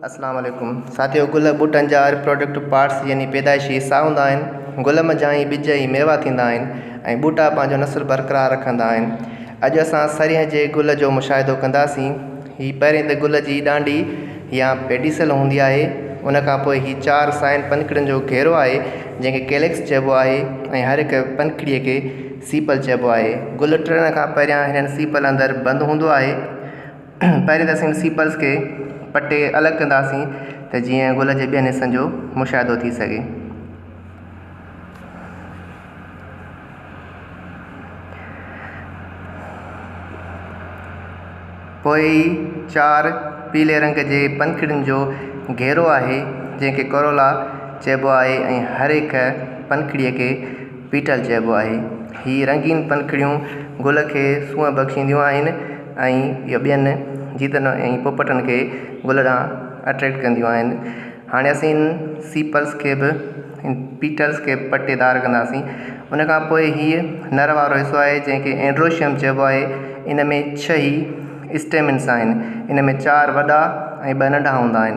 السلام عليڪم ساٿيو گل ٻوٽن جا ريپروڊڪٽو پارٽس يعني پيدائشي حصا هوندا آهن گل منجهان ئي ٻج ۽ ميوا ٿيندا آهن ۽ ٻوٽا پنهنجو نسل برقرار رکندا آهن اڄ اسان سرينهن جي گل جو مشاهدو ڪنداسين هي پهرين ته گل جي ڏانڊي يا پيڊيسل هوندي آهي ان کان پوء هي چار سائن پنکڙين جو گهيرو آهي جنهن کي ڪيليڪس چئبو آهي ۽ هر هڪ پنکڙي کي سيپل چئبو آهي گل ٽڙڻ کان پهريان هنن سيپل اندر بند هوندو آهي پهرين ته اسين سيپلز کي پٽي الڳ ڪنداسين ته جيئن گل جي ٻين حصن جو مشاهدو ٿي سگهي. پوء هي چار پيلي رنگ جي پنکڙين جو گهيرو آهي جنهن کي ڪورولا چئبو آهي ۽ هر هڪ پنکڙيء کي پيٽل چئبو آهي. هي رنگين پنکڙيون گل کي سونهن بخشينديون آهن ۽ اهي ٻين جيتن ۽ پوپٽن کي گل ڏانهن اٽريڪٽ ڪنديون آهن. هاڻي اسين هن سيپلز کي به هن پيٽلز کي پٽي دار ڪنداسين. ان کان پوء هيء نر وارو حصو آهي جنهن کي اينڊروشيم چئبو آهي. ان ۾ ڇهه ئي اسٽيمنس آهن. ان ۾ چار وڏا ۽ ٻه ننڍا هوندا آهن.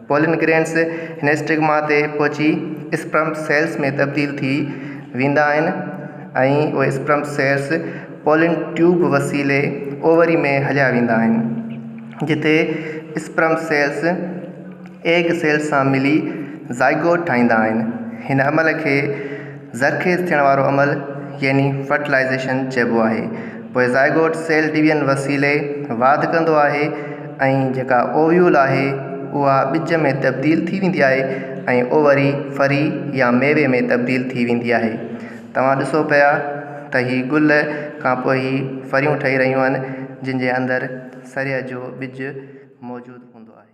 پولن گرينز هن اسٽگما تي پهچي اسپرم سيلز ۾ تبديل ٿي ويندا آهن ۽ اهي اسپرم سيلز پولن ٽيوب وسيلي اووري ۾ هليا ويندا آهن جتي اسپرم سيلز ايگ سيلز سان ملي زائگوٽ ٺاهيندا آهن هن عمل کي زرخيز ٿيڻ وارو عمل يعني فرٽلائيزيشن چئبو آهي پوء زائگوٽ سيل ڊويزن وسيلي واڌ ڪندو آهي ۽ جيڪا اوويول آهي اها ٻج ۾ تبديل ٿي ويندي آهي ۽ اووري ڦري يا ميوي ۾ تبديل ٿي ويندي آهي توهان ڏسو پيا ته هي گل کان پوء هي ڦريون ٺهي رهيون آهن جن جي اندر سريه جو ٻج موجود هوندو آهي.